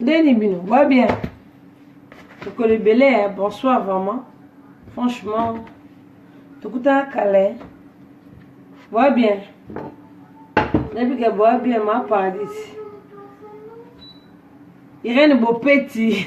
ndeni bino boa bien mokolo ebele ya bonsoir vraiment franchement tokutana kale boa bien nabika boa bien ma paradis irene bopeti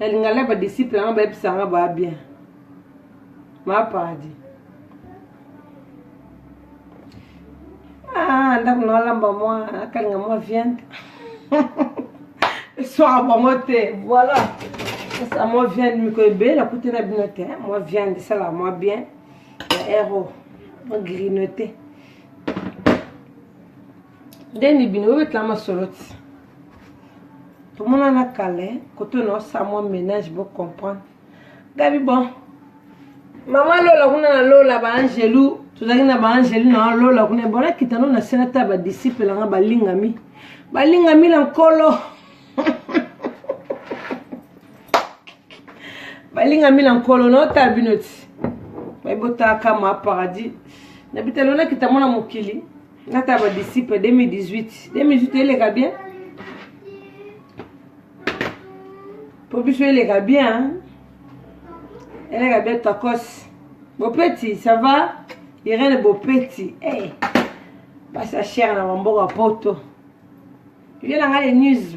nalinga la badisiple yanga bayebisa yanga baa bien maa paradis ah, ndako na alamba mwa akalinga mwa viande eswaka bango te voilà esa mwa viande mikolo ebele nakuti na bino te mwa viande esalaka mwa bien ya ero mwa grinote ndeni bino bobetela masolo ti tomonana kala koto na osala mwa ménage bo comprendre gabi bon mama lola kuna na lola baangelu tozalaki na baangelu na lola kuna bon nakita no na se natala badisiple nanga balingami balingami na nkolo balingami na nkolo naotala bino ti baibotaka ma paradis na bitalo nakita mwana mokili nata ba disciple 2018 2018 eleka bien po biso eleka bien eleka bien tokos bopeti ça va irene bopeti hey. Eh, basa chere na bamboka poto yo na ngai le news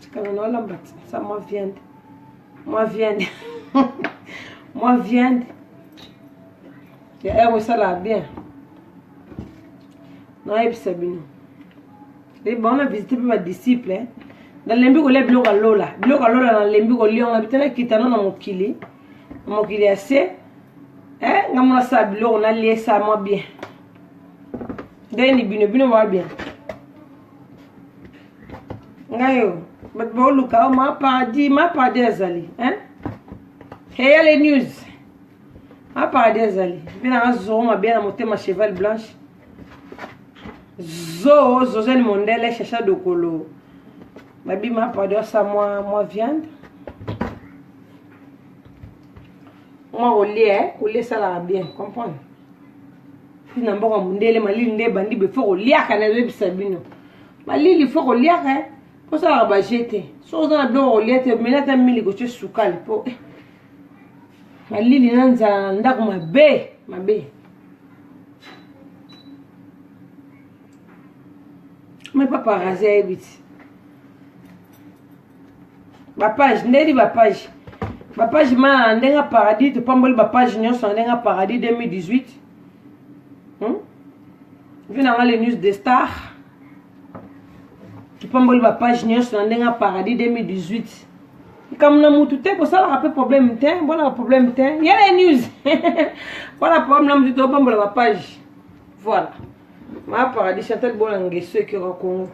tikala na olamba ti sa mwa viande mwa viande mwa viande ya ero esalaka bien nayebisa bino ebongo na visite mpe badisciple nalembi kolia biloko ya lola biloko ya lola nalembi kolia yango na bitana kitano na mokili na mokili ya se eh, nga mona sala biloko naliesa mwa bien ndeni bino bino mwa bien ngayo bato baoluka o oh, ma paradis ma paradis azali eh? heyale news ma paradis azali mpe nanga zoro mabe na motema cheval blanche zo zozani mondele chacha dokolo babima pado asa mwa mwa viande mwa kolia eh, kolia esalaka bien comprendre ti na mboka mondele malili nde ebandi befo koliaka nazoyebisa bino malili fo koliaka eh. osalaka baje te soki oza na biloko kolia te mela ata mili kotye sukali mpo eh, malili na nzala na ndako mabe mabe mai paparazi ayebi ti bapage ndeli bapage bapage ma ndenge ya paradis topamboli bapage nyonso na ndenge ya paradis 2018 hmm? vi nanga le news de star topamboli bapage nyonso na ndenge ya paradis 2018 likambo na motu te kosalaka mpe problème te mponaka problème te yele news mpona problème na motu topambola bapage voilà ma paradis chantal bola ngeso ekioka kongo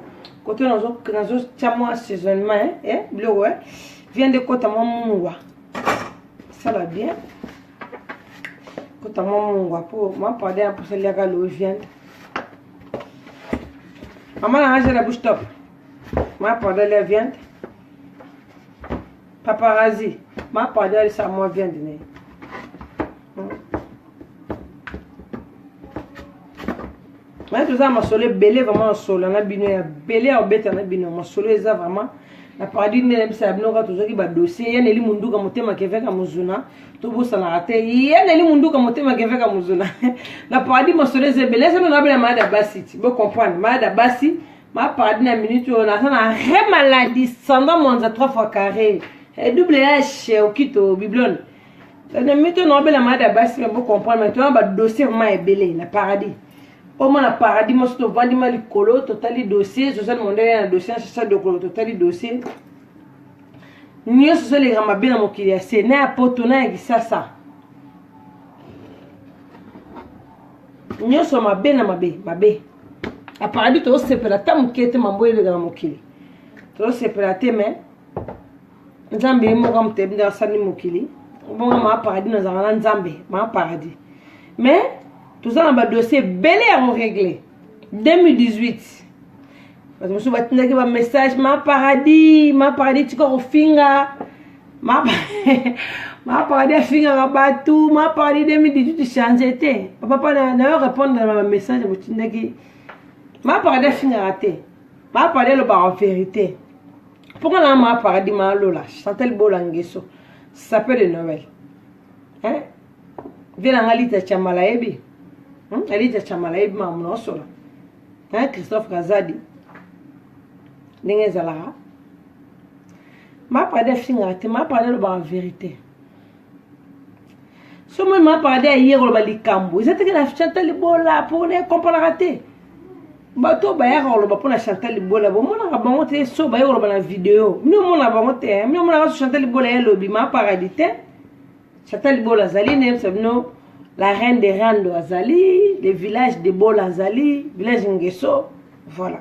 kote nazotya mwa assaisonnement eh, biloko eh. via nde kota mwa mungwa sala bien kota mwa mungwa mpo ma paradis ya mposa liaka lowe viande mama na ngazela bouche top ma paradis lia viande paparazi ma paradis alisa mwa viande naye naye toza na masolo ebele vraiment nasola na bino ya bele ya kobeta na bino masolo eza vraiment na paradis nde nayebisa ya bino kaka tozwaki badossier ye neli munduka motema keveka mozuna tobosanaka te ye neli munduka motema keveka mozuna na paradis masolo eza ebele eza nona bela malade ya basi ti bocomprendre malade ya basi ma paradis na minute oyo naza na re maladie sanda mwanza 3 fois carré eh, double h okito biblone na mito na obela malade ya basi mabo comprendre mais toyana badossier vraimen ebele na paradis omona paradis mosi tovandi ma likolo totali dossier zozali mondele na dossier na sasa dokolo totali dossier nyonso ezoleka mabe na mokili ya se na ya poto na ya kisasa nyonso mabe na mabe mabe aparadi tozosepela ata moke te mambo eleka na mokili tozosepela te mai nzambe ye moko amotebi nde asali mokili bongo maa paradis nazalaka na nzambe maa paradis mais toza na badossier ebele ya koregle 2018 bato mosusu batindaki bamessage ma paradis ma paradis tika kofinga ma, ma paradis afingaka bato ma paradis 2018 change te papa nayo répondre na bamessage botindaki ma paradis afingaka te ma paradis elobaka verité pourquoi na ma paradis ma lola chantel bola ngeso sapeur de noël hein vie na nga lita chamala yebi hmm? lita chamala yebi ma mona osola hein christophe kazadi ndenge ezalaka ma paradis afingaka te ma paradis alobaka verité somo ma parade ya ye koloba likambo eza teke na chantal libola mpo na ekompanaka te bato oyo bayaka koloba mpo na chantal libola bomonaka bango te so baye koloba na video mino omona bango te eh. mino omonaka so chantal libola ye lobi ma paradi te chantal libola azali nayebisa bino la reine de rando azali le village de bola azali village ngeso voilà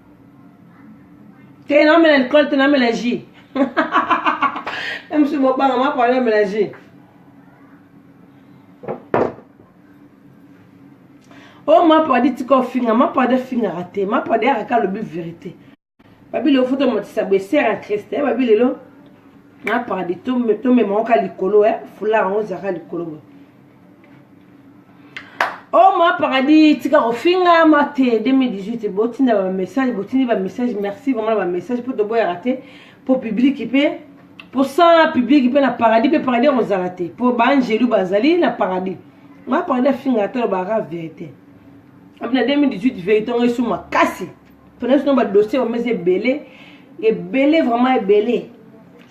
te namela likolo te namela ji msu bobanga mapala namela ji o oh, mapadi tika ofinga mapadi afingaka te mapadi yaka ka alobi verité babi lelo foto matisa boesere ya kriste eh, babi lelo mapadi tomemaka likolo eh, fulaka yango ozalaka likolo boye oh ma paradis tika kofinga ma te 2018 botinda bamessage botindi bamessage merci vraiment na bamessage mpo toboyaka te mpo publiki mpe mposa publiki mpe na paradis mpe paradis ekozala te mpo baangelu bazali na paradis ma paradis afinga ata lobaka verité na 2018 verité yango esu makasi pona sino badossier bango eza ebele ebele vraiment ebele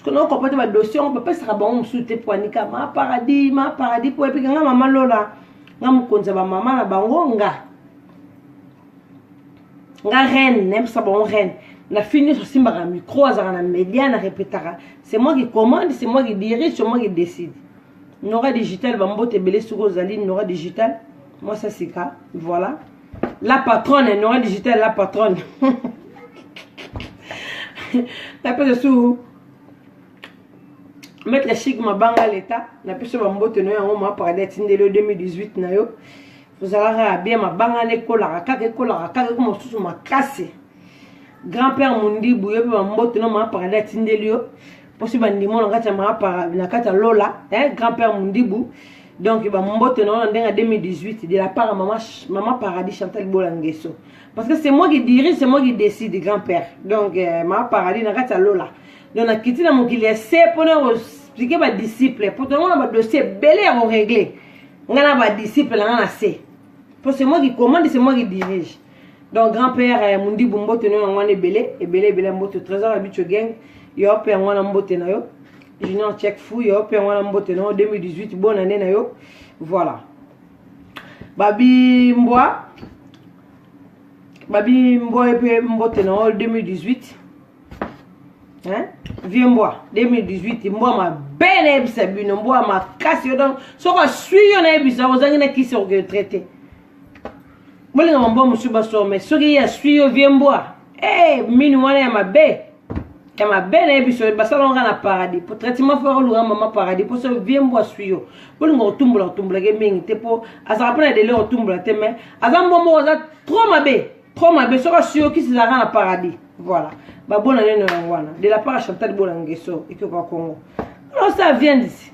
soki okopa te badossier yango bapesaka bango mosusu te mpo anika ma paradis ma paradis mpo epika nga mama lola nga mokonzi ya bamama na bango nga nga reine nayebisa bango reine na fille nyonso asimbaka micro azalaka na media na repetaka c'est moi qui commande c'est moi qui dirige c'est moi qui décide nora digital bambote ebele soki ozali nora digital mwasi asika voilà la patronne nora digital la patronne napesa su maître chic mabanga leta napesa bambote no yango ma paradis atindeli yo 2018 na yo ozalaka ya bien mabanga na ekolaka kaka ekolaka kaka eko mosusu makasi grand père mondibu yo mpe bambote no ma paradis atindeli yo posi bandimo na kati ya maapara na kati ya lola eh, grand père mundibu donc bambote na wana ndenge ya 2018 de la part ya mama, mama paradis chantal bola ngeso parce que c'est moi qui dirige c'est moi qui décide grand père donc eh, mama paradis na kati ya lola donc nakiti na mokili ya se mpona koexplike badisciple mpo tolongo na badossier ebele ya koregle ngai na badisciple na ngai na se mpo c'est moi qui commande c'est moi qui dirige donc grand père eh, mundibu mbote no yango wana ebele ebele ebele mbote trésor ya bicho gang yo mpe yango wana mbote na yo junior check fou yo mpe yango wana mbote na yo 2018 bonne année na yo voilà babi mbwa babi mbwa ye mpe mbote na yo 2018 hein? vieux mbwa 2018 mbwa mabe nayebisa bino mbwa makasi yo donc soki aswi yo nayebisa ozangi na kisi okoke traite bolinga mambwa mosusu baswa mai soki ye aswi yo vie mbwa hey, eh, mini wana ya mabe ya mabe na ye biso basala nga na paradis po traitement fo akolunga mama paradis mpo so vie mbwa aswi yo bolinga kotumbola kotumbolake mingi te mpo azalaka mpe na dele kotumbola te mai aza mbwa moko aza trop mabe trop mabe soki aswi yo kisi ezalaka na paradis voilà babona neno yango wana de la part ya chantal bolangeso ekioka kongo osala viandisi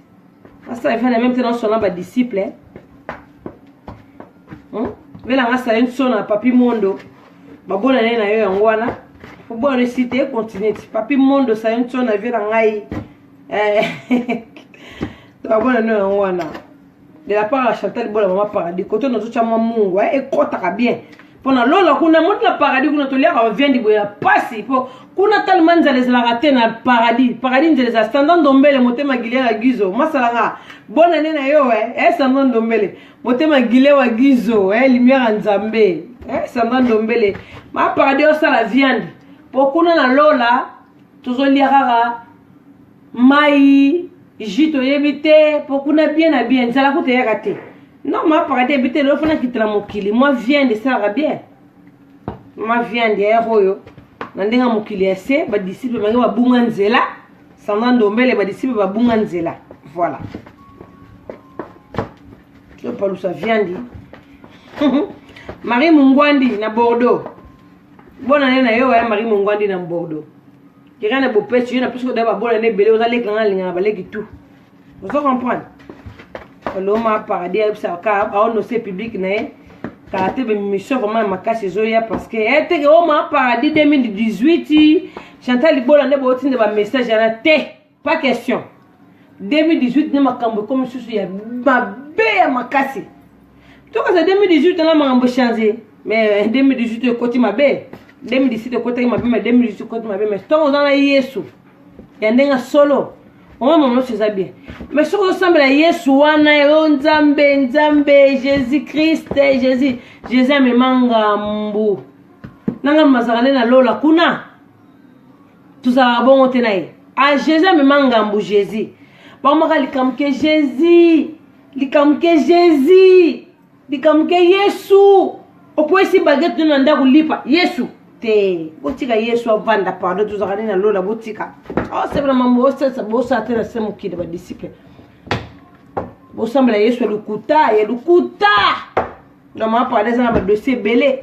asa efa na meme te nasona ba disciple hein? hmm? vela nga sala une sona papi mondo babona ne na yo yango wana obona esi te continue ti papi mondo sala une sona vela ngai eh, babona no yango wana de la part ya chantal bola mama paradis koto nazotya mwa mungu eh, ekɔtaka bien mpo na lola kuna moti na paradis kuna toliaka baviandi boye ya mpasi mpo kuna talema nzala ezalaka te na paradis paradis nzela eza standard ndombele motema gile ya gizo masalanga bona ne na yo eh, eh standard ndombele motema gile wa gizo eh, lumière ya nzambe eh, standard ndombele ma paradis osala viande mpo kuna na lola tozolia kaka mai jus toyebi te mpo kuna bien na bien nzala kuta eyaka te non mapaka te yebi te lelo fana kitela mokili mwa viande esalaka bien mwa viande yayaka oyo na ndenge ya mokili ya se badisiple bange babunga nzela sandra ndombele badisiple babunga nzela voilà topalusa viande marie mungwandi na bordeaux bona nde na yo waya marie mungwandi na bordeaux keka na bopesi yo na pesi koda babola na ebele oza leki nanga alingaka baleki tout ozo comprendre oloma paradis ayebisaka ka aonose publike na ye kala te bemission vraiment ya makasi ezoya parce que eteke eh, oma paradis 2018 chantal libola nde bootinda bamessage yana te pas question 2018 nde makambo ekomi susu ya mabe ya makasi tokaza 2018 wana makambo change mais 2018 ekoti mabe 2017 ekotaki mabe mais 2018 ekoti mabe mais ntango oza na yesu ya ndenge solo omoi mama nyonso eza bien mais soki ozosambela yesu wana yo nzambe nzambe jésus christ jésus jésus amema ngambu na ngambu mazalaka nde na lola kuna tozalaka bongo te na ye a ah, jésus amema ngambu jésus bakomaka likambo ke jésus likambo ke jésus likambo ke yesu okwesi bagete no na ndako lipa yesu te botika yesu avanda pardon tozalaka nde na lola botika osepela oh, mambo osalisa bosala te na se mokili badisiple bosambela yesu ya lokuta ya lokuta na mapala eza na badosie ebele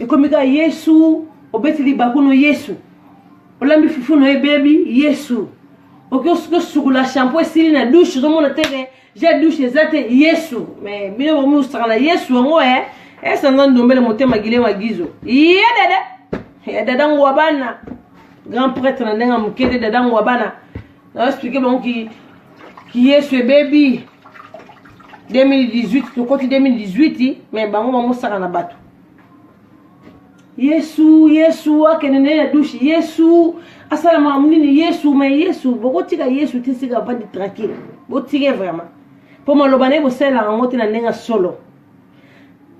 ekomi kaka yesu obeti libaku no yesu olambi fufu no ebebi yesu oki osukula shampo esili na dushe ozomona te ke ja dushe eza te yesu me bino bomusaka na yesu yango e esanza ndombele motema gile magizo ye dede ya dada ngwa bana grand prêtre na ndenge ya moke te dada ngwa bana na explike bango ki ki yesu ebebi 2018 tokoti 2018 me bango bamosaka na bato yesu yesu akende nde na dushe yesu asala makambo nini yesu me yesu bokotika yesu te sika avandi tranquille botike vraiment mpo maloba na ye bosalela yango te na ndenge ya solo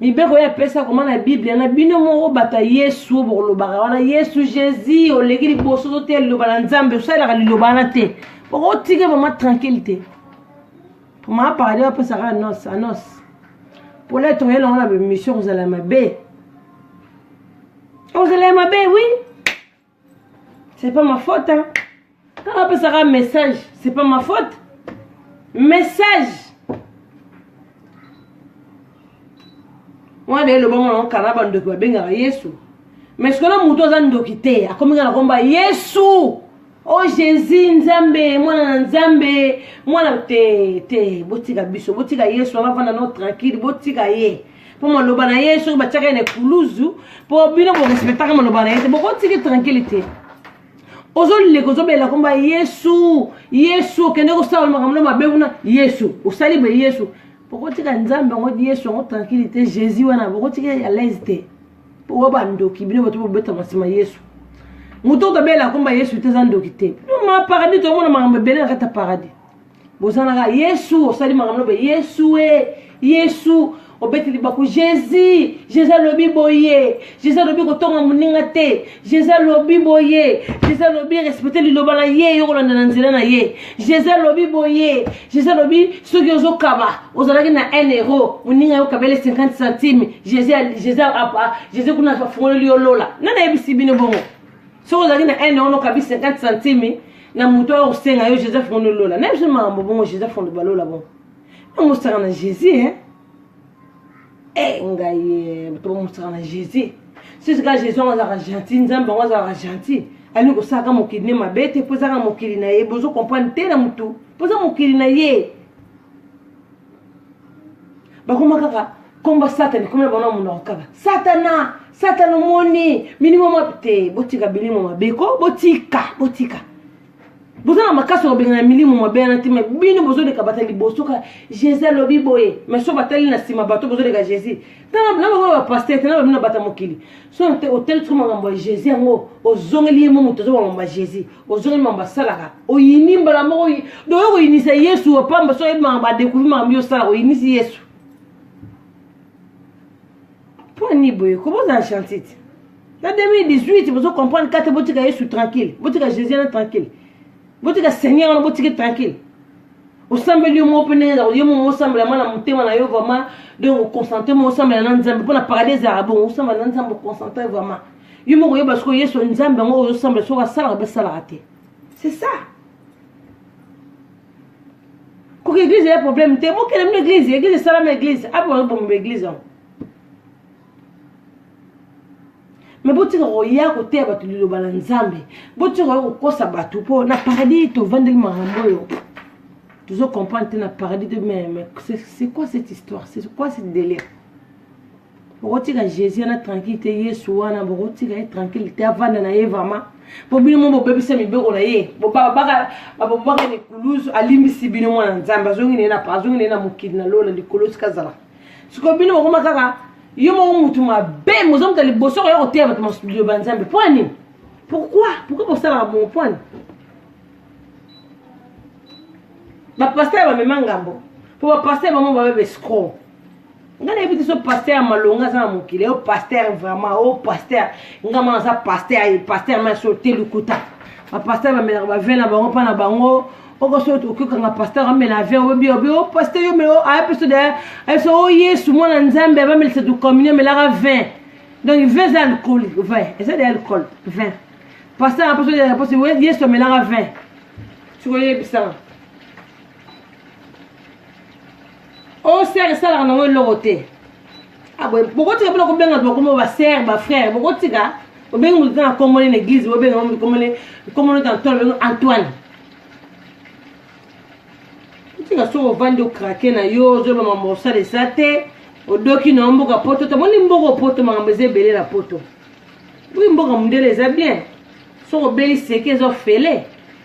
mibeko ye apesi akoma na biblia na bino moko bato ya yesu oyo bokolobaka wana yesu jésus oleki liboso to te liloba na nzambe osalelaka liloba wana te bokotika vraimen tranquille te maa paradi bapesaka anos anos mpona ete oye nango na bemission kozala mabe ozala ya mabe wi oui. c'est pas ma faute hein? kaka apesaka message c'est pas ma faute message wana eloba mwana okana bandoki babengaka yesu mais sikoyo na moto aza ndoki te akomi kaka na komba yesu o oh, jésus nzambe mwana na nzambe mwana te te botika biso botika yesu wana vanda no tranquille botika ye mpo maloba na ye soki batiaka ye na ekuluzu mpo bino borespectaka maloba na ye te bokotiki tranquille te ozoleka ozobelela komba yesu yesu okende kosala makambo na mabe kuna yesu osali be yesu bokotika nzambe yango yesu yango tranquille te jésus wana bokotika ya laise te oyo bandoki bino bato bobetama nsima yesu moto oyo tobela komba yesu te eza ndoki te ma paradis tomona makambo ebele na kati ya paradis bozanaka yesu osali makambo lobe yesu e yesu obeti libaku jésus jésus alobi boye jésus alobi kotonga moninga te jésus alobi boye jésus alobi respecte liloba na ye yo kolanda na nzela na ye jésus alobi boye jésus alobi soki ozokaba ozalaki na 1 euro moninga yo kabele 50 centime jésus kuna afungoleli yo lola nani ayebisi bino bongo soki ozalaki na 1 euro nokabi 50 centime na moto oyo osenga yo joseph ngondo lola na biso makambo bongo joseph ngondo balola bongo ntango osaka na jésus e eh, ngai bato bamosaka na jésus sisika jésus yango azalaka gentil nzambe yango azalaka gentil alingi kosalaka mokili ne mabe te mpo ezaka mokili na ye bozo comprendre te na motu mpo eza mokili na ye bakoma kaka komba satani komela bango na monoko kaka satana satana omoni milimo mabe te botika bilimo mabe ko botika botika boza na makasi kobengana milimo mabe yana te mai bino bozoleka bata liboso ka jésus alobi boye mai so batali na nsima bato bozoleka jésus na bango bapaster te na babino bata mokili soki te otali soki makambo ya jésus yango ozongeli ye mo moto ozoba makambo ya jésus ozongeli makambo asalaka oyini mbala moko doye koyinisa yesu opamba soki oyebi makambo adekouvri makambo yo osalaka oyinisi yesu mpo ani boye koboza na chantite na 2018 bozo comprendre kate botika yesu tranquille botika jésus na tranquille botika seigneur wana botiki tranquille osambeli yo moko mpe ndenge ezako yo moko osambela mwana motema na yo vraiment donc oconcentre moko osambela na nzambe mpo na paradis ezalaka bongo osambela na nzambe oconcentre vraiment yo moko oyeba sikoyo yesu nzambe yango oyo osambela soki asalaka mpe asalaka te c'est ça koki eglise eya problème te bokende mino eglise eglise esalama eglise apo bazobomba eglise yango me botika koya koteya bato liloba na nzambe botika koya kokosa bato mpo na paradis tovandeli makambo oyo tozo comprendre te na paradis te mais c'est quoi cette histoire c'est quoi cette délire bokotika jésus wana tranquille te yesu wana bokotika ye tranquille te avanda na ye vraiment mpo bino mo bobebisa mibeko na ye bababaka mikuluzu alimbisi bino mwana nzambe azongi na ye na mokili na lola likolo sikazalaka sikoyo bino bokoma kaka yo moko mutu mabe moza moto ya liboso koya koteya bato masudio banzambe mpo ya nini pourquoi pourquoi bosalaka bongo mpo ani bapaster bamema ngambo mpo bapaster bango babe bescro nga nayebi te so paster malonga aza na mokili yo paster vraiment o paster nga mwana aza paster paster maso te lukuta bapaster bamelaka bavin na bango mpa na bango oko so okokanga pasteur amela avion obi obi o oh, pasteur yo melo aya peso de ayebisa o oh, yesu mwana nzambe abamelisa to communion melaka 20 donc 20 eza alcool 20 eza de alcool 20 pasteur apeso de réponse yesu amelaka 20 sikoyebisanga o oh, sere esalaka nango eloko te ah, bokotika mpona kobenga bakoma basere bafrere bokotika obengi moto na komone na eglise bobenga moto komone komone ta ntolo bengo antoine otika soki ovandi okrake na yo ozoba mambo osala esa te odoki na yo mboka poto tomoni mboka opoto makambo eza ebele na poto oyi mboka mondele eza bien soki obeli seke eza ofele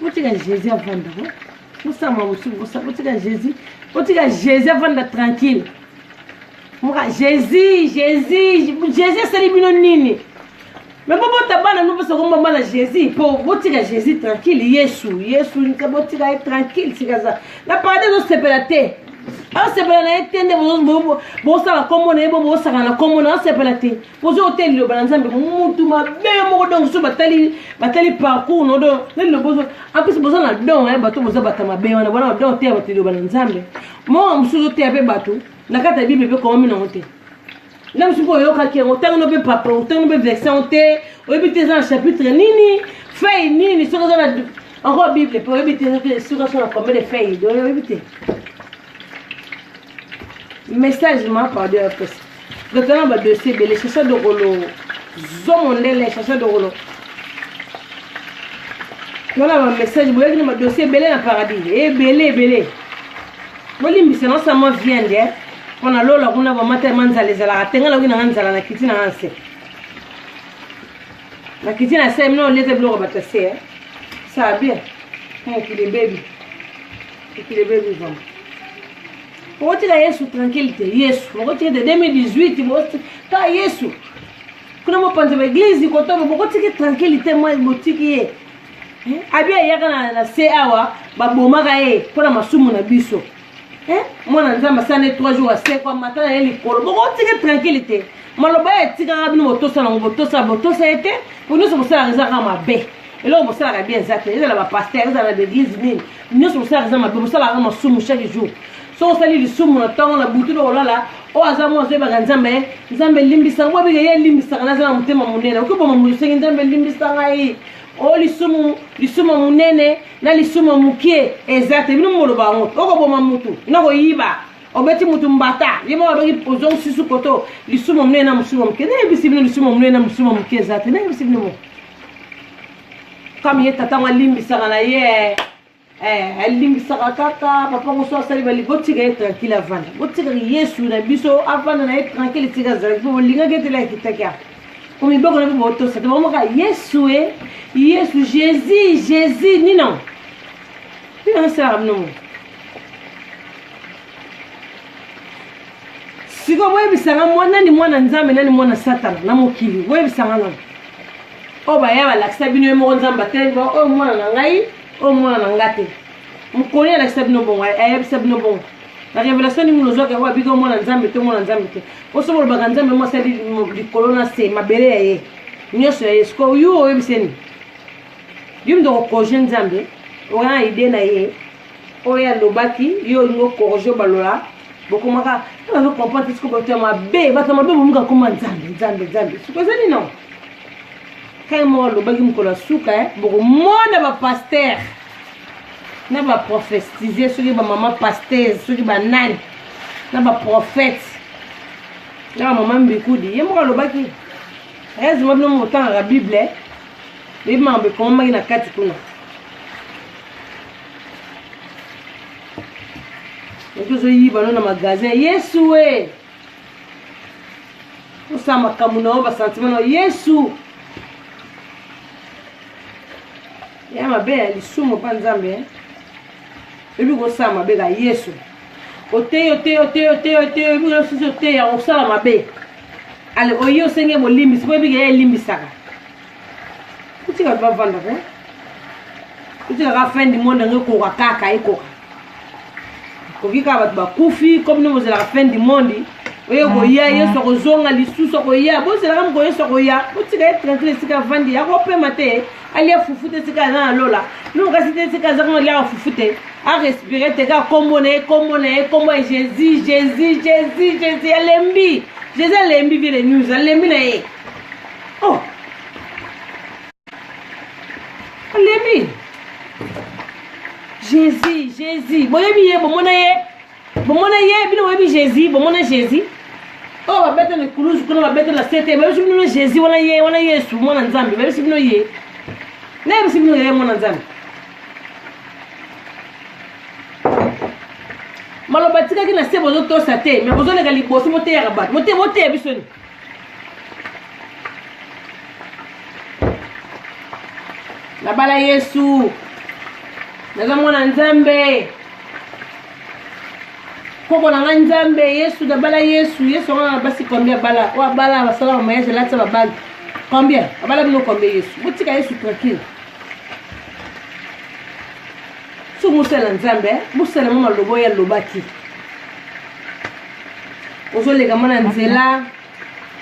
botika jésus avanda ko bosama mosusu botika jésus botika jésus avanda tranquille moka jésus jésus jésus asali bino nini me bobota bana no mposa komba bana jésus mpo botika jésus tranquille yesu yesu nte botika ye tranquille sikaza na paradis ezosepela te asepela na ye te nde bosala nkombo na ye bo bosaka na nkombo na asepela te pozo ote liloba na nzambe mutu mabe moko donc so batali batali parcours no don na liloba ozo en plus boza na don eh, bato boza bata mabe wana bona don oteya bato liloba na nzambe moko mosusu oteya mpe bato na kati ya bible mpe komami nango te na mosusu mpe oyokaki yango ntango no mpe papa ntango mpe version te oyebi te eza na chapitre nini fei nini soki oza na encore bible mpe oyebi te soki aso na combien de fei oyebi te message ma pardon ya pesa totana badosie ebele chacha dokolo zomo ndele chacha dokolo tona bamessage boyaki na badosie ebele na paradis ebele ebele bolimbisa nasama viande eh? mpo na lola kuna bamata ma nzala ezalaka te ngai nakoki nanga nzala na kiti nanga nse na kiti na se mino olete biloko bato se eh? saa bien mokili ebebi okotika yesu tranquille te yesu okotika te 2018 botika yesu kuna mopanzi ba eglize kotobo bokotiki tranquille te mwa botiki ye eh, abi ayaka na, na se awa babomaka ye mpo na masumu na biso eh, mwana nzambe asana ye 3 jours asekwa mata na ye likolo bokotiki tranquille te maloba ya etikaka bino botosa nango botosa botosa ye te po nyonso bosalaka ezaka mabe eloko bosalaka bien eza te ezala bapaster ezala na baeglise nini nyonso bosalaka eza mabe bosalaka masumu chaque jour soki osali lisumu na ntongo na butu to kolala oyo aza mwa azoyebaka nzambe ye nzambe elimbisa ngai abike ye elimbisaka naza na motema monene okoki boma moto osengi nzambe elimbisa ngai o oh, lisumu lisumu monene na lisumu mokie eza te bino moloba yango okoboma motu na koyiba obeti motu mbata ye moko abaki ozongi susu koto lisumu monene na mosumu moke nayebisi bino lisumu monene na mosumu moke eza te nayebisi bino moko kami ye tata ngo alimbisaka na ye eh, alimbisaka kaka papa ngo so asali bali botika ye tranquille avanda botikaka yesu na biso avanda na ye tranquille tika azalaki mpo bolingaki etela ekitaki apo po miboko na mpe botosa te bakomaka yesu e yesu jésus jésus nino nino asalaka bino ngo sikoyo boyebisa nga mwa nani mwana nzambe nani mwana satana na mokili boyebisa nga nani oyo baya balakisa bino ye moko nzambe atelemi ba oyo mwana na ngai oyo mwana na nga te mokoni alakisa bino bongo ayebisa bino bongo na révélation ndenge nozwaka yango abiki omwana nzambe te omwana nzambe te oso bolobaka nzambe mo asali likolo na se mabele ya ye nyonso ya ye sikoyo yo oyebiseni yo mdoko projet nzambe oya idee na ye oyo alobaki yo olingi okorige balola bokomaka nazo comprendre siko bato ya mabe bato ya mabe bomuka koma nzambe nzambe nzambe siko eza nino kai moko alobaki mokolo ya suka eh, bokomona bapaster na baprofetisie soki bamama pastese soki banani na baprofete na bamama mbikudi ye moko alobaki ezima bino motangaka bible eh. eyebi makambo ekomamaki na kati kuna tozoyiba no na magasin yesu e osala makambo na yo basentiment na yesu ya mabe ya lisumu mpa nzambe eh? oyebi kosala mabe ka yesu oteyi oteyi oteyi oteyi oteyi oyebi kosusi oteya osala mabe ale oye osenge bolimbisi mpo oyebi keya elimbisaka otika ba vanda ko otika ka fin du monde yango ekoka kaka ekoka koki kaka bato bakufi comme nde bozalaka fin du monde oyo koya ah, yesu ah. akozonga lisusu akoya bozalaka moko yesu akoya botika ye tranquille esika avandi akopema te alia fufu te esika aza na lola noko kasi te esika aza kona liaka fufu te arespire te kaka kombo na ye kombo na ye kombo ya jésus jésus jésus jésus alembi jésus alembi vie de news alembi na ye oh alembi jésus jésus boyebi ye bomona ye bomona ye bino boyebi jésus bomona jésus oyo babeta na ekulusu kuna babeta na sete babisi bino jésus wana ye wana yesu mwana nzambe babisi bino ye nayebisi bino ye mwana nzambe maloba atikaki na se bozotosa te me bozoleka liboso moteyaka bato mote boteya biso ni nabala yesu naza mwana nzambe koko na ngai nzambe yesu nabala yesu yesu yango na basi combien abala oyo abala basala bamayage alatisa babali combien abala bino combien yesu botika yesu tranquille so mosala nzambe eh? bosalama maloba oyo alobaki ozoleka mwa na nzela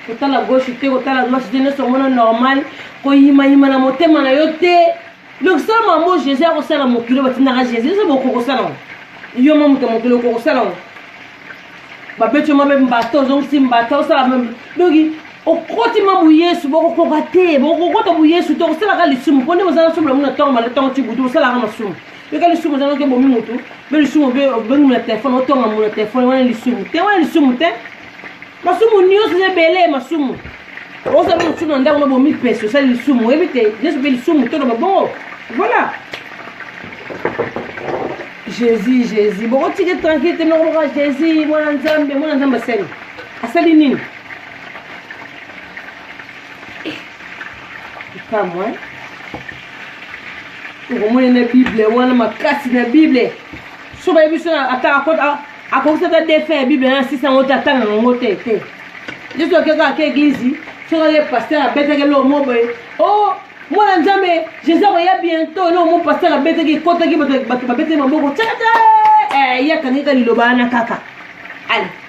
kotala gauche te kotala droite te nyonso omona normal koyimayima na motema na yo te donc sala mambo jésus akosala mokili batindaka jésus eza bokokosala ngo yo ma moto mokili okokosala ngo babeti yoma mpe mbata ozongisi mbata osala donc okoti ma boyesu bokokoka te bokokota boyesu te okosalaka lisumu mpo nde bozala nsumu na muna ntango mala ntango ti butu osalaka masumu yoka lisumu eza noki ebomi motu mpe lisumu mpe obengi mona telefone otonga mona telefone wana lisumu te wana lisumu te masumu nyonso eza ebele masumu osala mosusu na ndako na bomi pesi osali lisumu oyebi te nyonso mpe lisumu to na babongo voilà jésus jésus bokotike tranquille te noko moka jésus mwana nzambe mwana nzambe asali asali nini Kamwa. Okomona na Bible wana makasi na Bible. So bayebi so ata akota akokisa ata defe ya Bible na 600 yango te atanga yango te te. Yesu akei kaka ke eglize soki ake pasteur abetaki eloko moko boye o oh, mwana nzambe jésus akoya bientôt eloko moko pasteur abetaki ekotaki bato babetaki maboko tata eh, ye akangika liloba wana kaka ale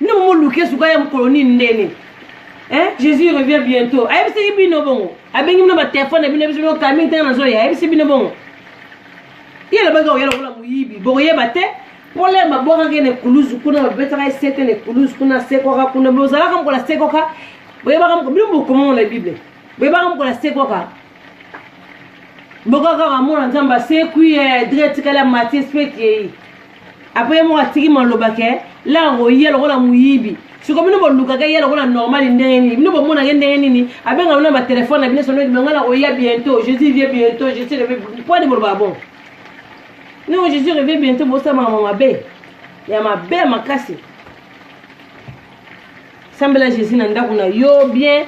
Nde mo luke suka ya mokolo nini ndene. Hein? Jésus revient bientôt. Ayebisi bino bongo. Abengi bino ba téléphone bino bisi bino kami tanga na zoya. Ayebisi bino bongo. Ye la banga oyela kola muyibi. Bokoyeba te. Pole mabwaka ke ne kuluzu kuna babetaka esete ne kuluzu kuna sekoka kuna bozalaka mokola sekoka boyebaka moko bino bokomongo na bible boyebaka mokola sekoka bokaka kamona nzambe asekwi eh, dre etikali ya matis mpe kei apres ye moko atiki maloba ke laka koya lokola moyibi siko bino bolukaka ye lokola normali ndenge nini bino bomonaka ye ndenge nini abenga bino na batelefone na bino sonoki bango na koya bientôt jésus vie bientôt jésus reve pwani bolobaka bon noko jésus reve bientôt bosamaka ma mabe ya mabe makasi sambela jésus na ndako na yo bien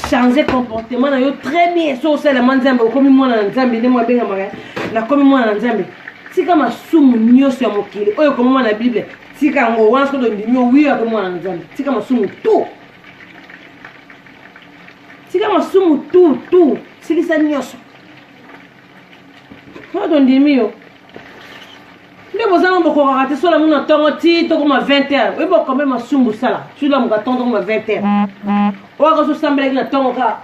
change comportement na yo très bien so osalelama nzambe okomi mwana na nzambe ndenge abengamaka nakomi mwana na nzambe tika masumu nyonso ya mokili oyo ekomama na bible tika yango wana soki ondimi owi akomi mwana na nzambe tika masumu tu tika masumu tu tu silisa nyonso wana tondimi yo nde bozanga bokokaka te sola muna ntongo ti tokoma 20 heure oyebi okome masumbu sala sulamuka ntongo tokoma 20 heure oyo akaso osambelaki na ntongo kaka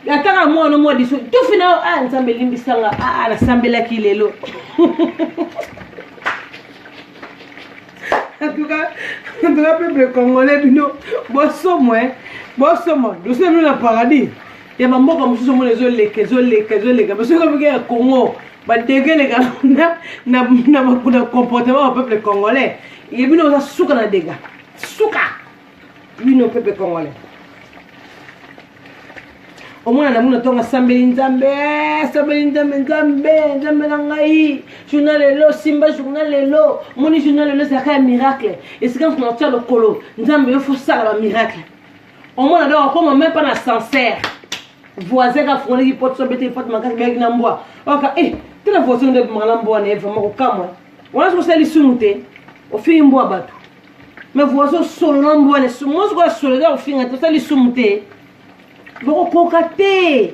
ataka mwana mwa liso tufi na yo a ah, nzambe elimbisanga a ah, ah, nasambelaki lelo antuka peuple congolais bino bosomo bosomo dosebino na paradis ya bamboka mosusu omona ezoleka ezoleka ezoleka mais soki omike ya congo badege eleka na comportement ya peuple congolais ye bino oza suka na dega suka bino peuple congolais omwana na muna tonga sambeli nzambe sambeli nzambe nzambe nzambe na ngai journa lelo simba journa lelo omoni journa lelo ezalaka ya miracle esika mpo na otya lokolo nzambe yo fosala bamiracle omona donc akoma meme pas na sancerre voisin ka fungolaki pote so abetaki pote makasi beyaki na mbwa oka e te na voisin nde ebimaka na mbwa na ye vraiment kokamwa wana soki osali lisumu te ofingi mbwa bato me voisin osolo na mbwa ne mwasi koya solo eza kofinga te osali lisumu te bokokoka te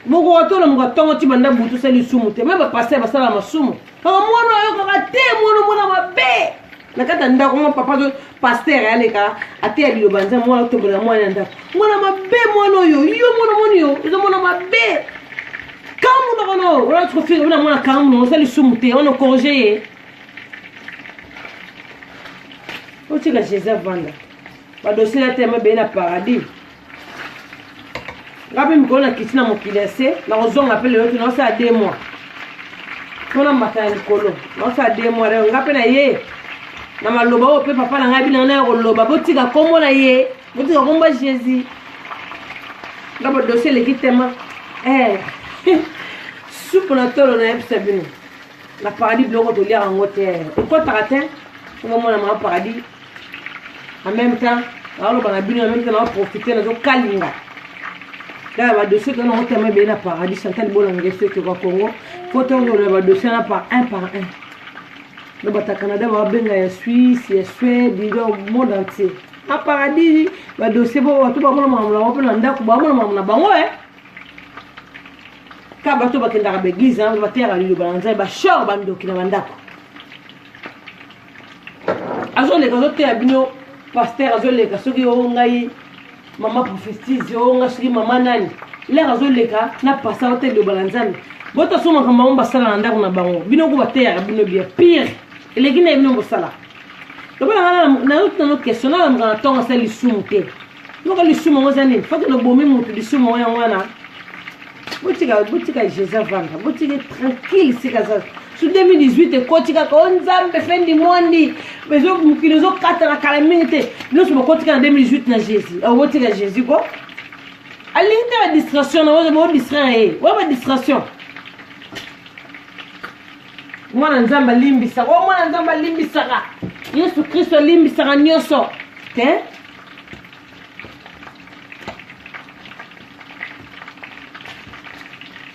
bokoka to na moka ntongo ti banda butu osali lisumu te me bapaster basala masumu kaka mwana oyokaka te mwana mwana mabe na kati ya ndako mwa papa to pastere aleka ateya liloba nza mwana otombolela mwana ya ndako mwana mabe mwana oyo yo mwana moni yo eza mwana mabe kambu na kono wana tikofinga bina mwana kambu na osali sumu te wana okorge ye otika jesus avanda badosela te mabe na paradis nga mpe mikolo na kiti na mokili ya se nakozonga mpe lelo te naosala de mois mpo na mbata ya likolo naosala de mois lelo nga mpe na ye na maloba oyo mpe papa na ngai bino na ya koloba botika nkombo na ye botika nkombo ya jésus nga bodosi eleki tema eh. supu na tolo nayebisa bino na paradis biloko toliaka yango te ekotaka te omomona mama paradis en même temps naoloba na bino en même temps naoprofite nazokalinga kaka badossier tona otema ebele na paradis chantal bolanga soki kwa congo fo tozolola badossier na par un par un no bata canada babenga ya suisse ya suède ido monde entier na paradis badossier bo bato bamona makambo na bango mpe na ndako bamona makambo na bango e ka bato bakendaka baeglise bateyaka liloba na nzambe bashor bandoki na bandako azoleka azoteya bino paster azoleka soki o ngai mama prophétise o ngai soki mama nani lere azoleka na pasa ote liloba na nzambe botasomaka bango basala na ndako na bango bino ko bateyaka bino bia pire eleki na ye bino bosala lokola nazotuna no question nalamuka na ntongo asala lisumu te yoka lisumu yango eza nini fokende obomi motu lisumu yango yango wana botika botika jesus avanda botika tranquille sika za su 2018 ekoti kaka o nzambe fendi mondi mokili ezokatana kala mingi te nyonso bokotika na 2018 na jésus obotika jésus ko alingi te badistraction na bodistraire ye oya badistraction mwana nzambe alimbisaka o mwana nzambe alimbisaka yesu kristo alimbisaka nyonso te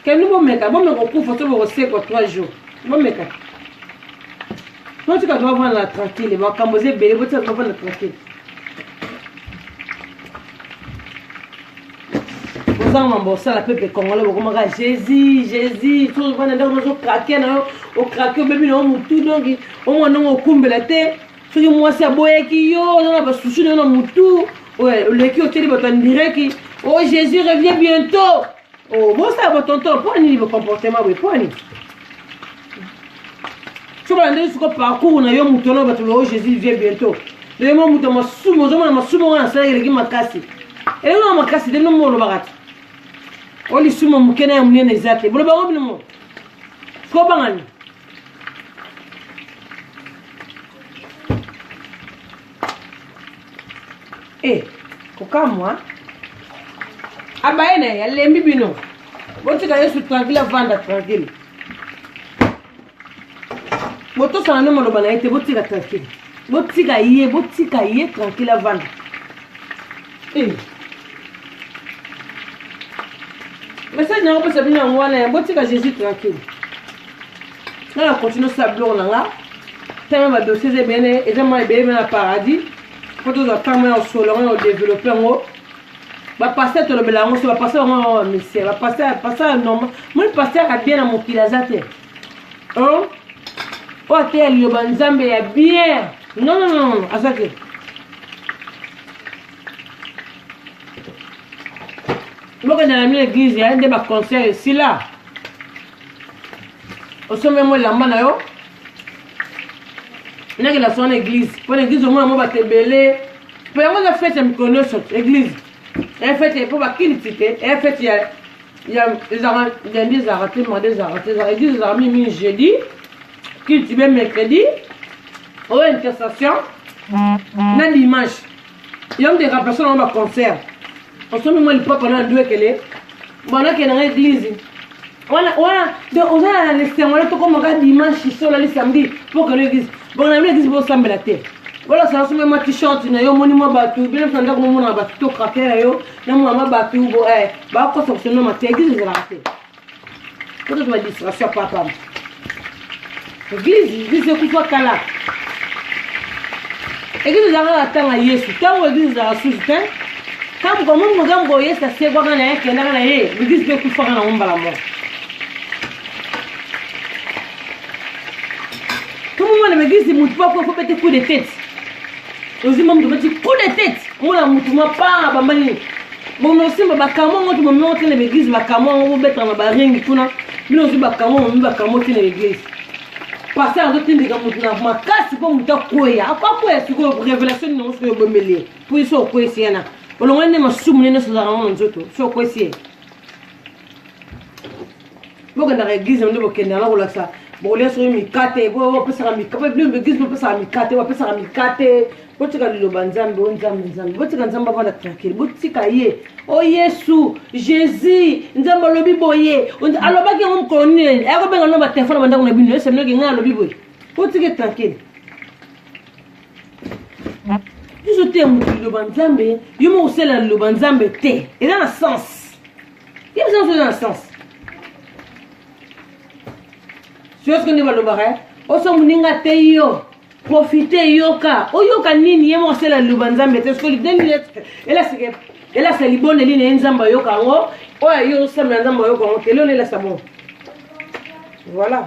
keni bomeka bomeka okufa to bokosekwa 3 jours bomeka botika tobavanda na tranquille makambo eza ebele botika tobavanda na tranquille ozanga mambo osala pepe congolais bokomaka jésus jésus tozovanda ndako nozokrake na yo okrake obebi na yo motu donki omwana ngo okumbela te soki mwasi aboyaki yo oza na basusu na yo na motu oleki otyeli bato ya ndireki o oh, jésus revient bientôt o oh, bosala botonton mpo nini bocomportement boye mpo nini soki balandeli siko parcours na yo moto wana bato loo oh, jésus vient bientôt lelo mwa moto ya masumu ozomona masumu wana asalaki eleki makasi eleki na makasi te bino mo olobaka te o lisumu moke na ya monene eza te boloba yango bino mo sikobangani e kokamwa abaye na ye alembi bino botika yesu tranquille avanda tranquille botosana no maloba na ye te botika tranquille botika ye botika ye tranquille avanda Eh. message na yango pesa bino yango wana ya botika jésus tranquille nga na continue osala biloko na nga teme badossier eza ebele eza mwa ebele mpe na paradis mpo tozwa ntango ya osolo yango ya odeveloppe yango bapaster tolobela yango so bapaster yango yango bamisie bapaster paster ya normal moni paster ya bien na mokili aza te oyo ateya liloba nzambe ya bien non non non aza te bokenda na mino eglize ya nde baconcert esila osombe mo elamba na yo nakenda sona eglize mpo na eglize omona mo bato ebele mpo yango eza fete ya mikolo nyonso eglize eya fete mpo bakiliti te eya fete ya ezalaka lundi ezalaka te mardi ezalaka te ezalaka eglize ezalaka mingi mingi jeudi kiliti be mercredi oyo intercession na dimanche yo mde remplace nango baconcert osomi mwa lipapa na ndwekele banake nanga eglise wana wana de ozala na lesengo le tokomaka dimanche so olali samedi mpo okende eglise bongo na bino eglise bosambela te olosala somi mwa t-shirt na yo omoni mwa bato bino mpe na ndako momonaka bato to krater na yo na mwa mwa bato eh, bakosa kosonoma te eglise ezalaka te Kuna tuma distraction ya papa. Eglise, eglise ekufa kala. Eglise ezalaka na ntango ya Yesu, ntango eglise ezalaka susu te. Kama kwa Mungu ngambo Yesu asekwaka na ye kendaka na ye, eglise mpe ekufaka na ngombala moko. Tumumwana meglise mutu mpo akoki kobete coup de tete. Ozima mutu obeti coup de tete, omona mutu mwa paa bamba nini? bomosimba bakamwa yango te bomema te na baeglise bakamwa yango bobetaka na baringi kuna bino ozwi bakamwa bomi bakamwa te na baeglise paster azotindika motu na makasi mpo motu akweya akweya sikoyo révélation nini yango sikoyo obomeli ye mpo ye so okweyisi yana olongoli nde masumu nde nyonso ozalaka yango na nzoto so okweyisi ye bokendaka eglise nde bokendaka kolakisa bokolia soki mikate bopesaka eglise bopesaka mikate bapesaka mikate botika liloba nzambe o nzambe nzambe botika nzambe avanda tranquille botika ye o oh, yesu jésus nzambe alobi boye alobaki yango mokolo nini akobenga no batelefone bandako na bino eseminoki ngai alobi boye botika tranquille biso te ya moto liloba nzambe yo moko osala liloba nzambe te eza na sens ye biso nyonso eza na sens siyoske nde balobaka eh? oso moninga te yo profite yoka oyoka nini ye moko asala liloba nzambe te soki lideni elasike elasa libondeli na ye nzambe ayoka yango oyo ayo osambela nzambe ayoka yango te lelo elasa bongo voilà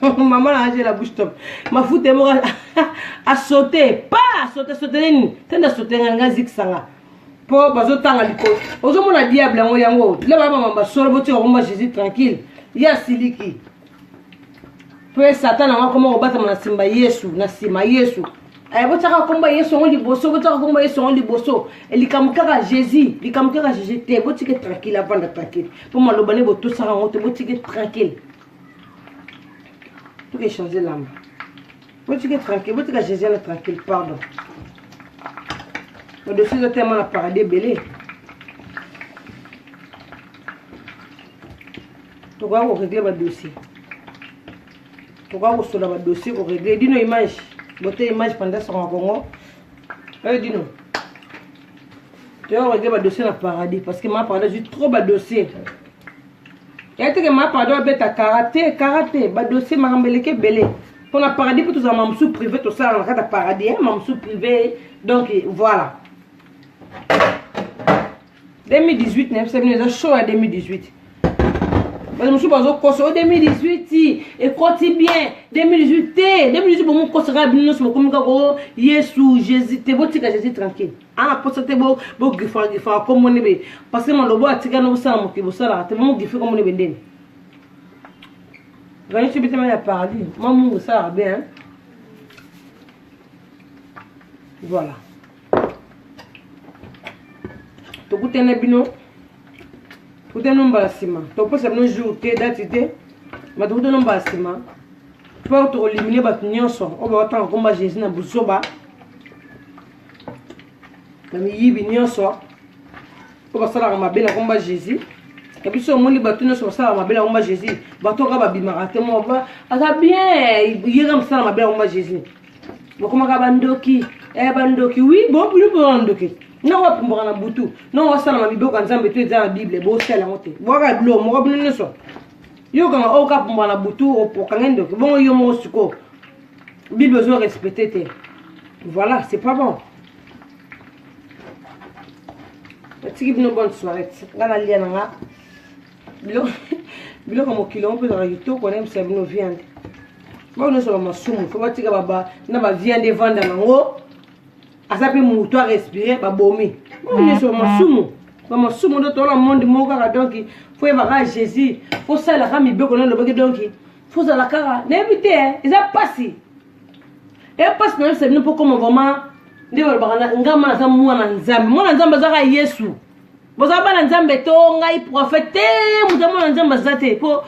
maman na ajela bouche top mafuta ye moko asote pa asote asotele nini tende asotele nga nga zikisa nga mpo bazotanga likolo ozomona diable yango yango tila baya mama basolo botika komba jésus tranquille ye asiliki mpo ye satana yango akoma kobatama na nsima yesu na nsima yesu eh, botiaka komba yesu yango liboso botiaka komba yesu yango liboso eh, likambo kaka jésus likambo kaka jésus te botike tranquille avanda tranquille mpo maloba nde botosaka yango te botike tranquille toke change lamba botike tranquille botika jésus na tranquille pardon odosi ezo tellement na paradis ebele tokoya koregle badossier tokoya kosola badossier koregle dino image bote image panda songa kongo oyo dino toya koregle badossier na paradis parce que ma paradis azwi trop badossier yateke ma pardon abeta karate karate badossier makambo eleki ebele mpo na paradis mpo tozala mamosu privé tosalaka na kati ya paradis eh, mamosu privé donc voilà 2018 na yebisa bino eza show ya 2018 bato mosusu bazokosa o 2018 ekoti bien 2018 te 2018 bomokosaka bino nyonso bokomi kaka o yesu jésus te botika jésus tranquille ana posa te bogifaka gifaka kombo nde be parce malobo atika no bosala mokili bosalaka te bomogife kombo nde be ndeni ganisi bitema ya paradis mwa mungu esalaka bien voilà tokutana bino tokutana mbala nsima tokopesa bino jour te dati te ma tokutana mbala nsima mpo tokolimine bato nyonso oyo bakotanga komba jésus na buzoba na miyibi nyonso oyo basalaka mabe na komba jésus na biso omoni bato nyonso basalaka mabe na komba jésus bato oka babimaka te moko aza bien yeka mosala mabe na komba jésus bokomaka bandoki eh, bandoki wi bobilobona ndoki ntango bapumbaka na butu ntango basalama miboko ya nzambe to eza na bible bosala yango te bwaka biloko moko bino nyonso yokanga oyo kapumbaka na butu okange ndoki bongo yo moko sikoyo Bible ozo respecter te. Voilà, c'est pas bon. Natiki bino bonne soirée. Nga na lia na nga. Biloko biloko mokili yango mpe ezalaka kitoko nayebisa bino viande bao nyonso na masumu fo batika na baviande evanda nango aza mpe moto arespire babomi bao nyonso na masumu bamasumu nde tola monde moko kaka donki fo yebaka jésus fo salaka mibeko na elobaki donki fozala kaka nayebi te eza mpasi eya mpasi nayebisa bino mpo koma vraiment nde balobaka ngama naza mwana nzambe mwana nzambe aza kaka yesu boza bana nzambe to ngai prophète te moto ya mwana nzambe aza te mpo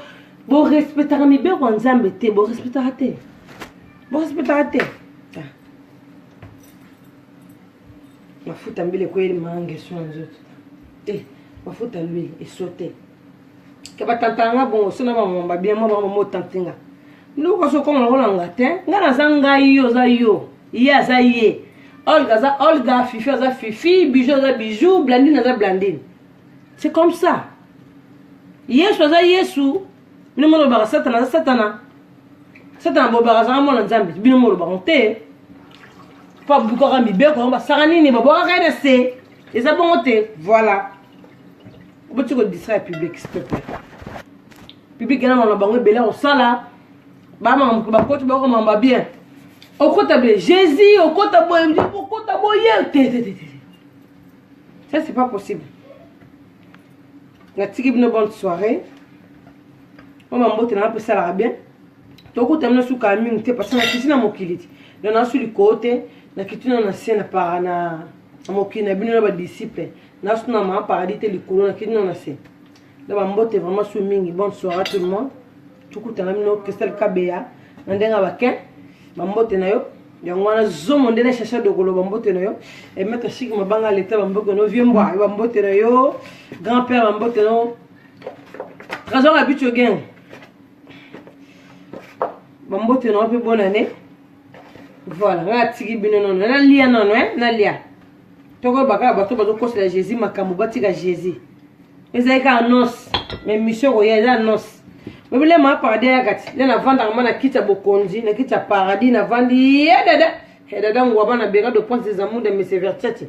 borespectaka mibeko ya nzambe te borespectaka te borespectaka te ah. mafuta mbele ekweli mangeso na nzoto te eh, mafuta lwi eso te ke batantana nga bongo so na bamama babia mwa bango bango otante nga noko so okoma lokola nga te nga naza ngai yo oza yo ye aza ye olga aza olga fifi aza fifi bijou aza bijou blandine aza blandine c'est comme ça yesu aza yesu bino molobaka satana aza satana satana bolobaka azanga mwana nzambe bino molobaka te mpo abukaka mibeko yango basaka nini babwakaka ye na se eza bongo te voilà oboti ko distraire public s'il te plaît public yana makambo bango ebele akosala bamakambo bakoti bako makambo bien okota bie jésus okota boye okota boye te te te ça c'est pas possible natiki bino bonne soirée oyo mambote nanga mpe esalaka bien tokuta bino sukaa mingi te parce que nakiti na mokili te donc nasu likoo te nakiti na na se na para na mokili na bino na badisciple nasu na ma paradis te likolo na kino na se na bambote vraiment su mingi bonne soirée à tout le monde tukutana bino christelle kabeya na ndenge ya bakin bambote na yo yango wana zomo nde na cherche dokolo bambote na yo emetre chike mabanga leta bambote na yo vie mbwa bambote na yo grand père bambote na yo trésor abicho gang bambote na yo mpe bonane voilà nga atiki bino nono nalia nono nalia tokoyeba kaka bato bazokosela jésus makambo batika jésus ezali kaka annonce mais mission koya eza annonce bobile ma paradis ya kati nde navandaka ma na kiti ya bokonzi na kiti ya paradis navandi ye dada he dada ngwaba na beka de prince des amour de mese vertete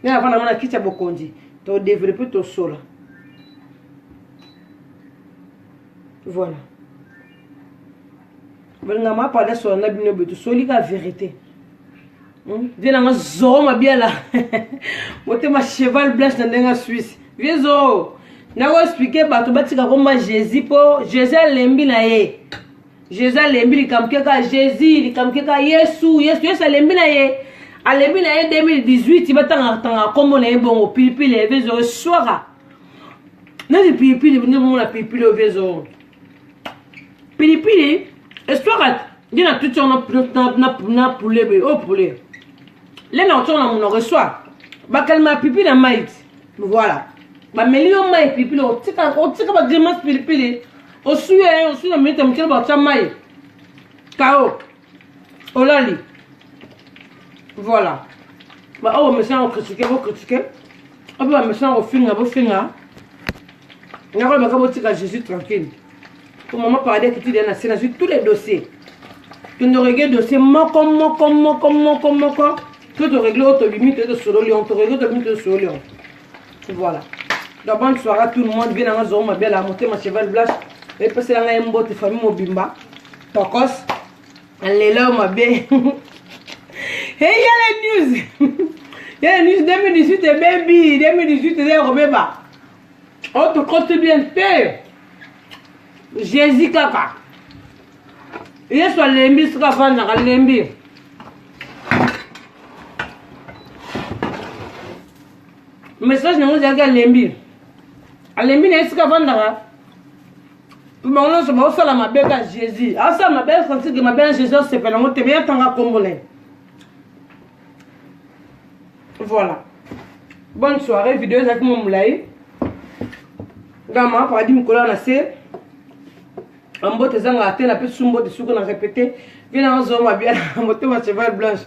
nde navanda ma na kiti ya bokonzi todeveloppe tosola voilà balinga mapanda solo na bino boye tosoli ka verité hmm? vie nanga zoro mabiala motema cheval blanche na ndenge ya swisse vie zoro nakoexplike bato batika komba jésus mpo jésus alembi na ye jésus alembi likambo keka jésus likambo keka yesu yesu yesu alembi na ye alembi na ye 2018 batangakatanga nkombo na ye bongo pilipili evezoro eswaka neti pilipili nde bomona pilipili ovezoro pilipili eswaka nde na tuti yango na poulet boye oyo oh, poulet le na kotyaka na monoko eswa bakalima ya pipi na mai ti voilà bameli yo mai pilipili otika otika bagrimace pilipili osui ye osui na minute ya moke bakotya mai kao olali voilà baoyo bamesana kokritike bokritike oyo mpe bamesana kofinga bofinga nakolobaka botika jésus tranquille po mama paradis akiti deya na se nazwi tous les dossiers tondoregle dossier moko moko moko moko moko to toregle oyo tobimi toye tosololi on toregle tobimi toye tosololi on voilà donc bonne soirée à tout le monde bien nanga zoro mabela motema cheval blanche epesela ngai mbote famille mobimba tokos lelo mabe hey yala news yala news 2018 ebebi 2018 eza ya kobeba otokosi bien te jésus kaka yesu alembi soki afandaka alembi message nango ezalaki alembi alembi na esika avandaka bango nyonso baosala mabe ka jésus asala mabe asansike mabe na jésus asepela yango te me atanga nkombo na ye voilà bonne soirée video ezalaki mwa molai gama paradis mikolo ya na se mbote ezangaka te napesi mbote suku na repete mpe na ozoma bia motema cheval blanche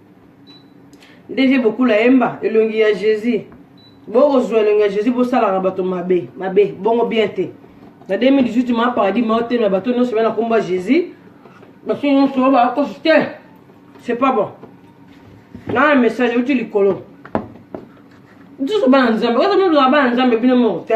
nde vie bokula yemba elongi ya jésus bokozwa elongi ya jésus bosalaka bato mabe mabe bongo bien te na 2018 ma paradis maotemela bato nyonso bana kombo ya jésus bato nyonso bakosi te c'est pas bon na message euti likolo nsusu bana nzambe oza mozala bana nzambe bino moko te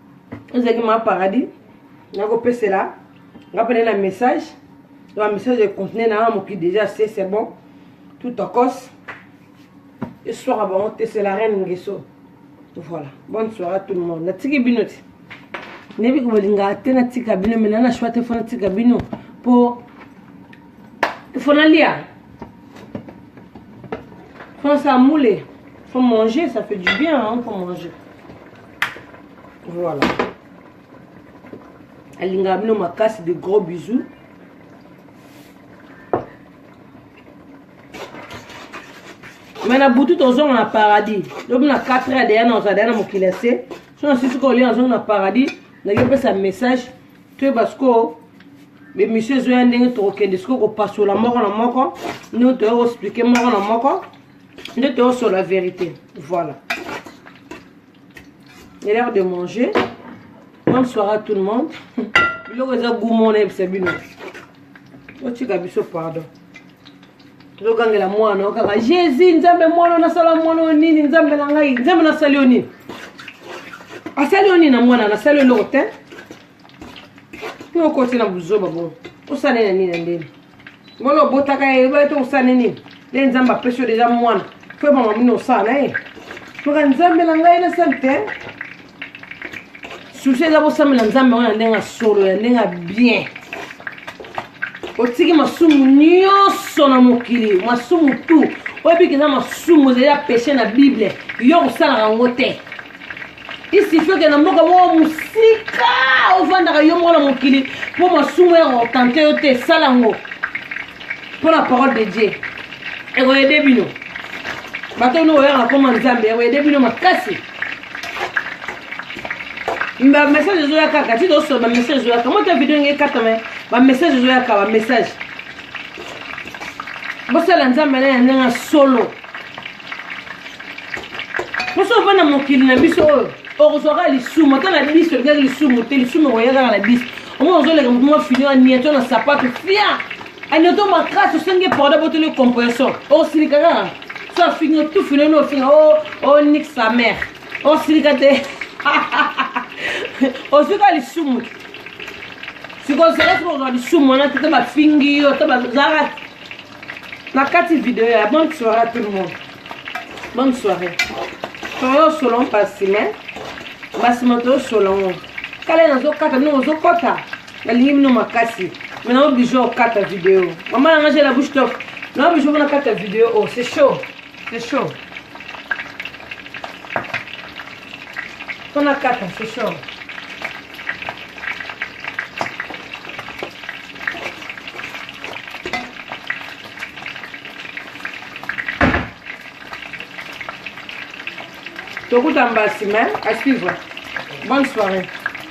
ezalaki ma paradis nakopesela nga pene na message ba message econtinue na nga moki déjà se c'est bon tout tokos eswaka bango te c'est la reine ngeso voilà bonne soirée à tout le monde natiki bino ti nayebi kobalingaka te natika bino me nana shwa te fo natika bino mpo fo nalia fo nasala mule fo manger ça fait du bien hein, fo manger voilà alingaka bino makasi de gros bisous me na butu tozonga na paradis lobi na 4 heure deya na ozala deya na mokili ya se so na sisi kolia nazonga na paradis ndaki opesa message toyeba sikoyo bemission ezoya ndenge tokokende sikoyo kopasola moko na moko ndenge toya koexplike moko na moko nde toyosola verité voilà il est l'heure de manger bonne soirée à tout le monde biloko eza gout mona yebisa bino otika biso pardon tozogangela mwana o kaka jésus nzambe mwana nasala mwana oyo nini nzambe na ngai nzambe nasali yo nini asali yo nini na mwana nasali yo eloko te Yo okoti na buzoba bo. Osala na nini na ndeni? Ngolo obotaka ye, ba to osala nini? Le Nzambe apesi yo deja mwana. Fo mama mini osala na ye. Maka Nzambe na ngai na sali te. Susi eza bosambela Nzambe wana ndenge solo ya ndenge bien. Otiki masumu nyonso na mokili, masumu tout. Oyebi keza masumu ezali ya peche na Bible. Yo osalaka yango te. isifi okenda mboka moko mosika ofandaka yo moko na mokili mpo masumu ya kotante yo te sala yango mpo na parole de dieu ekoyede bino bato oyo oyaka koma nzambe ekoyede bino makasi bamessage ezoya kaka ti tosola bamessage ezoyaka mwa ta video ndenge ekatama bamessage ezoyaka bamessage bosala nzambe na ya ndenge ya solo mposo ovanda mokili na biso oyo okozwaka lisumu ata na biso olingaki lisumu te lisumu okoya kaka na biso omona ozoleka motu mwa fini aniato na sapato fia aniato makasi osengi eporda botoli compression okosilika kaka so afingi otufini ono ofinga o oh, oh, nik sa mare okosilika te ozwi ka lisumu te sikoyo sikoyo kozwa lisumu wana te te bafingi yo te bazalaka na kati video ya bonne soirée à tout le monde bonne soirée toyo solo mpasi me mbasi moto yo solongo kala nazokata bino ozokota nalingi bino makasi me nao bijo okata video mama nanga je la bouche top nao bijo mpona kata video o oh, c'est chaud c'est chaud mpona kata c'est chaud tokuta mbasi mais excuse moi bonne soirée